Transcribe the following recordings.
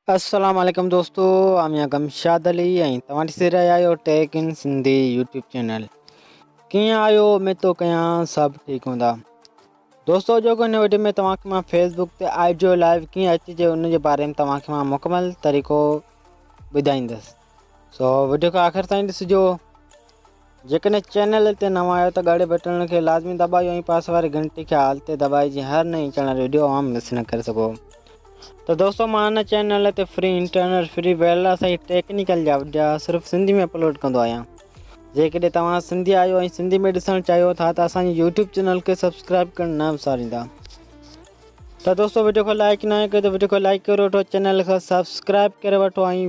السلام عليڪم دوستو آء ميان گمشاد علي ۽ توهان ڏسي رهيا آهيو tech in Sindhi YouTube channel ڪيئن آهيو اميد ٿو ڪيان سڀ ٺيڪ هوندا دوستو اڄو ڪو هن ويڊيو ۾ توهان کي مان فيس بڪ تي آئي جيو لائو ڪيئن اچجي ان جي باري ۾ توهان کي مان مڪمل طريقو ٻڌائيندس سو وڊيو کي آخر تائين ڏسجو جيڪڏهن چينل تي نوان آهيو ته ڳاڙهي بٽڻ کي لازمي دٻايو ۽ پاسي واري گهنٽي کي آل تي دٻائي جيئن هر نئين اچڻ واري وڊيو اوهان مس نه ڪري سگهو ته دوستو مان هن چينل تي free internet free wireless ۽ technical جا وڊيا صرف سنڌي ۾ اپلوڊ ڪندو آهيان جيڪڏهن توهان سنڌي آهيو ۽ سنڌي ۾ ڏسڻ چاهيو ٿا ته اسان جي يوٽيوب چينل کي سبسڪرائب ڪرڻ نه وساريندا ته دوستو وڊيو کي لائڪ نه ڪيو ته وڊيو کي لائڪ ڪري وٺو چينل کي سبسڪرائب ڪري وٺو ۽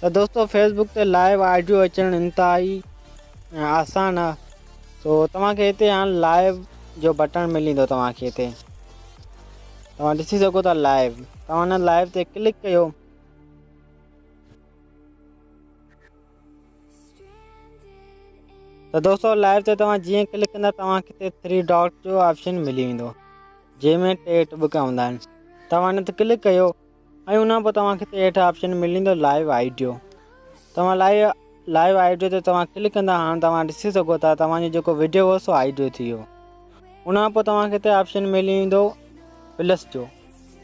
ته دوستو فيس بڪ تي لائيو آڊيو اچڻ انتهائي آسان آ سو توهان کي هتي هاڻ لائيو جو بٽڻ مليندو توهان کي هتي توهان ڏسي سگهو ٿا لائيو توهان هن لائيو تي ڪلڪ ڪيو ته دوستو لائيو تي توهان جيئن ڪلڪ ڪندا توهان کي هتي ٿري ڊاٽ جو آپشن ملي ويندو جنهن ۾ ٽي ٽٻڪا هوندا آهن توهان هن تي ڪلڪ ڪيو ۽ ان کان پوء توهان کي هتي هيٺ آپشن ملندو لائيو آئيڊيو توهان لائيو لائيو آئيڊيو تي توهان ڪلڪ ڪندا هاڻ توهان ڏسي سگهو ٿا توهان جو جيڪو ويڊيو هو سو آئيڊيو ٿي ويو ان کان پوء توهان کي هتي آپشن ملي ويندو پلس جو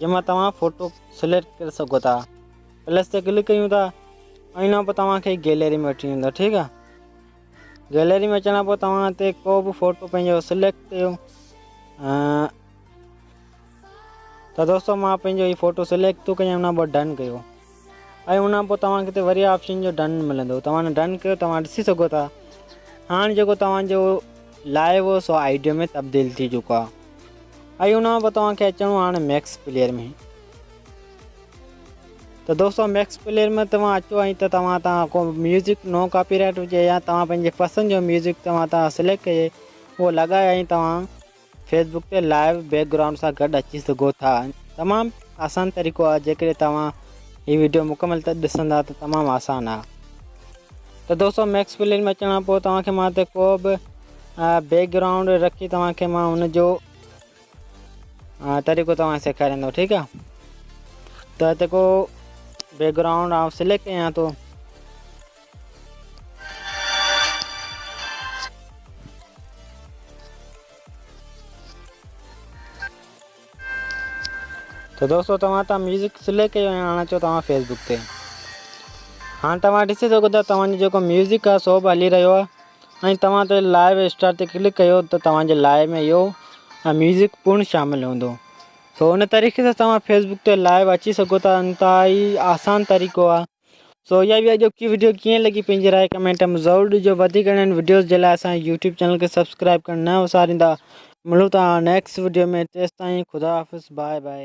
جنهن مان توهان فوٽو سليڪٽ ڪري سگهو ٿا پلس تي ڪلڪ ڪيون ٿا ۽ ان کان پوء توهان کي گيلري ۾ وٺي ويندو ٺيڪ آ گيلري ۾ اچڻ کان پوء توهان هتي ڪو به فوٽو پنهنجو سليڪٽ ڪيو ته دوستو مان پنهنجو هي فوٽو سليڪٽ ٿو ڪيان ان پوء ڊن ڪيو ۽ ان پوء توهان کي وري آپشن جو ڊن ملندو توهان ڊن ڪيو توهان ڏسي سگهو ٿا هاڻ جيڪو توهان جو لائيو هو سو آئيڊيو ۾ تبديل ٿي چڪو آهي ۽ ان پوء توهان کي اچڻو هاڻ ميڪس پليئر ۾ ته دوستو ميڪس پليئر ۾ توهان اچو ۽ ته توهان تان ڪو ميوزڪ نو ڪاپي رائٽ هجي يا توهان پنهنجي پسند جو ميوزڪ توهان تان سليڪٽ ڪجي اهو لڳائي ۽ توهان فيس بڪ تي لائيو بيڪ گرائونڊ سان گڏ اچي سگهو ٿا تمام آسان طريقو آهي جيڪڏهن توهان هي ويڊيو مڪمل ته ڏسندا ته تمام آسان آهي ته دوستو ميڪس پلين ۾ اچڻ پوء توهان کي مان هتي ڪو به بيڪ گرائونڊ رکي توهان کي مان ان جو طريقو توهان سيکاريندو ٺيڪ آهي ته هتي ڪو بيڪ گرائونڊ آئون سليڪٽ ڪيان ٿو تو دوستو توهان تان ميوزڪ سليڪ ڪيو ۽ آڻا چو توهان فيسبوڪ تي هاڻ توهان ڏسي سگهو ٿا توهان جو جيڪو ميوزڪ آ سو به هلي رهيو آ ۽ توهان تي لائيو اسٽار تي ڪلڪ ڪيو ته توهان جي لائيو ۾ اهو ميوزڪ پڻ شامل هوندو سو ان طريقي سان توهان فيسبوڪ تي لائيو اچي سگهو ٿا انتهائي آسان طريقو آ سو اها هئي اڄوڪي وڊيو ڪيئن لڳي پنهنجي راء ڪمينٽ ۾ ضرور ڏجو وڌيڪ اهڙين وڊيوز جي لاء اسان جي يوٽيوب چينل کي سبسڪرائب ڪرڻ نه وساريندا ملون ٿا نيڪسٽ وڊيو ۾ تيستائين خدا حافظ باء باء.